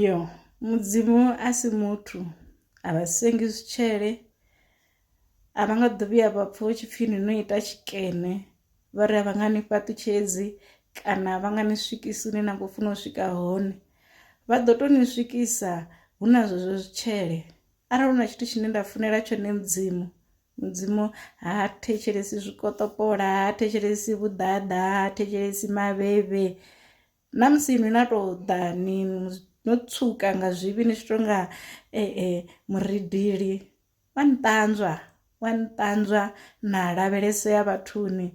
yo mudzimu a si muthu a vha sengi zwitshele a vha nga ḓo vhuya vha pfha hu tshipfi ni no ita tshikene vha ri a vha nga ni fhaṱutshedzi kana vha nga ni swikisi hune na khou funa u swika hone vha ḓo tou ni swikisa hu na zwezwo zwitshele arali hu na tshithu tshine nda funela tshone mudzimu mudzimu ha thetshelesi zwikoṱopola ha thetshelesi vhuḓaḓa ha thetshelesi maveve na musi inwi na tou ḓa ni no tswuka nga zwivhi ni tshi tou nga e e muridili wa ni ṱanzwa wa ni ṱanzwa na lavhelesea vhathuni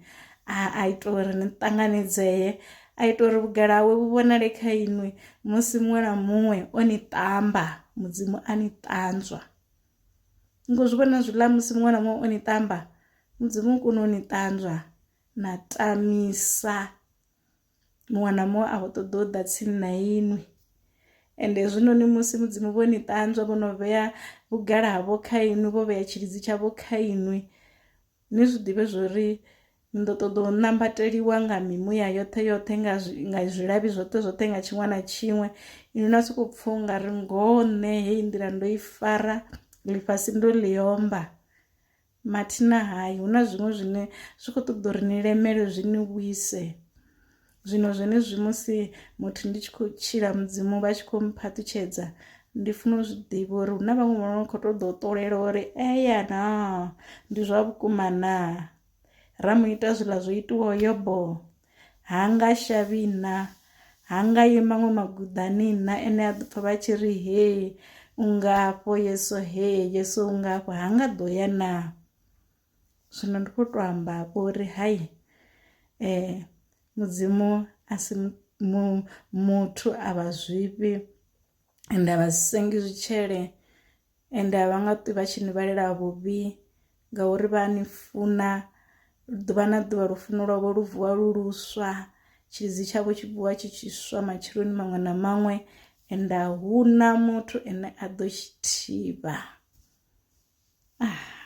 a ita uri ni ṱanganedzee a ita uri vhugala hawe vhu vhonale kha inwi musi muṅwe na muṅwe o ni ṱamba mudzimu a ni ṱanzwa ngo zwi vhona zwiḽa musi muṅwe na muṅwe o ni ṱamba mudzimu u kone u ni ṱanzwa na tamisa muṅwe na muṅwe a khou ṱoḓa u ḓa tsini na inwi ende hezwinoni musi mudzimu vho ni ṱanzwa vho no vhea vhugala havho kha inwi vho vhea tshilidzi tshavho kha inwi ni zwi ḓivhe zwo ri ni ḓo ṱoḓa u nambateliwa nga mimuya yoṱhe yoṱhe nga nga zwilavhi zwoṱhe zwoṱhe nga tshiṅwe na tshiṅwe inwi na sokou pfha u nga ri ngoho nṋe heyi nḓila ndo i fara ḽifhasi ndo ḽi omba mathina hai hu na zwiṅwe zwine zwi khou ṱoḓa uri ni lemele zwi ni vhuise zwino zwenezwi musi muthu ndi tshi khou tshila mudzimu vha tshi khou mphaṱutshedza ndi funa u zwi ḓivha uri hu na vhaṅwe vhono khou ṱoḓa u ṱolela uri eya na ndi zwa vhukuma na ra mu ita zwiḽa zwo itiwaho yobo ha nga shavhi na ha nga yi maṅwe maguḓani na ene a ḓo pfha vha tshi ri he u nga afho yeso he yeso u nga afho ha nga ḓo ya na zwino ndi kho to amba afho uri hai eh mudzimu a si muthu a vha zwifhi ende a vha sengi zwitshele. ende a vha nga ṱwi vha tshi ni vhalela vhuvhi ngauri vha a ni funa ḓuvha na ḓuvha lufuno lwavho lu vuwa lu luswa tshilidzi tshavho tshi vuwa tshi tshi swa matsheloni maṅwe na maṅwe ende a hu na muthu ane a ḓo tshi thivha ah.